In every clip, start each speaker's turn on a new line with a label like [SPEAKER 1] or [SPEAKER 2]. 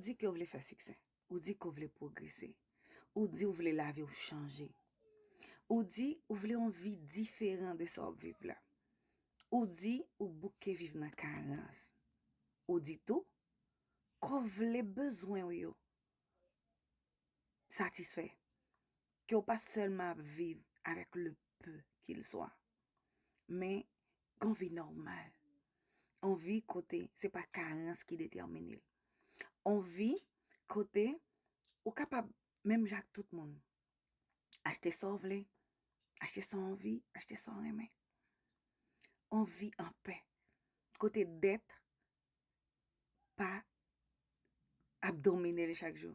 [SPEAKER 1] Ou di ke w vle fè siksè. Ou di ke w vle pwogrese. Ou di ou vle lavi w chanje. Ou di ou vle yon vi diferan de sa w ap viv la. Ou di ou bouke viv nan karans. Ou di tou ke w vle bezwen w yo satisfè. Ke w pa sèlman ap viv avèk le peu kil swa. Men Yon vi nòmal. Yon vi kote se pa karans ki detèmine l. Yon vi kote ou kapab menm jan ak tout moun. Achte sa w vle, achte sa w anvi, achte sa w renmen. Yon vi anpè. Kote dèt pa ap domine li chak jou.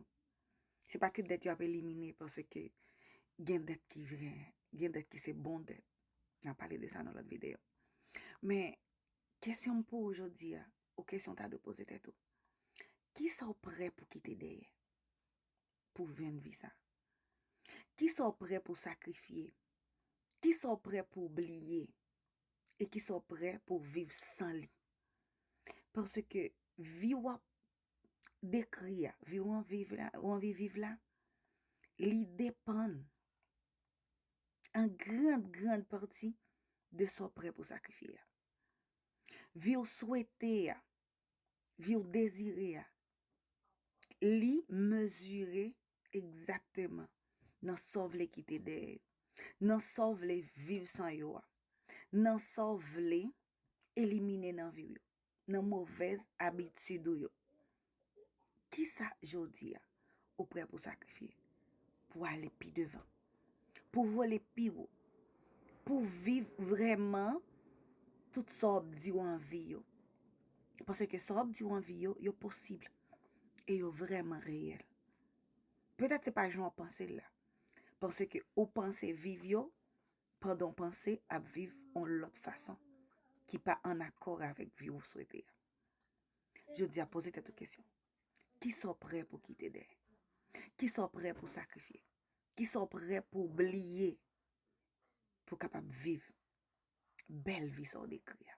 [SPEAKER 1] Se pa ke dèt yo ap elimine panse ke gen dèt ki vre, gen dèt ki se bon dèt. Nan pale de sa nan lòt videyo. Men, kesyon m pou ou jodi a, ou kesyon ta dwe poze tèt ou. Ki sa ou prè pou kite dèyè? pou vin visa? Kisa w prè pou sakrifye? Kisa w prè pou w bliye? E kisa w prè pou w viv san li? Paske vi w ap dekri a, vi w anvi viv la, li depann an grand grand pati de sa w prè pou w sakrifye a. Vi w swete a, vi w dezire a, li mezire egzakteman nan sa w vle kite dèyè yo, nan sa w vle viv san yo a, nan sa w vle elimine nan vi w yo, nan movèz abitid ou yo. Kisa jodi a? ou prè pou sakrifye, pou ale pi devan, pou vole pi wo, pou viv vreman tout sa w ap di w anvi yo. Pase ke sa w ap di w anvi yo, yo posib, e yo vreman reyèl. Petèt se pa jan w ap panse la, pase ke ou panse viv yo, pandan w panse ap viv yon lòt fason, ki pa an akò avèk vi ou swete a. Jodi a poze tèt ou kesyon. Kisa w prè pou kite dèyè? Kisa w prè pou sakrifye? Kisa w prè pou bliye pou w kapab viv bèl vi sa w dekri a?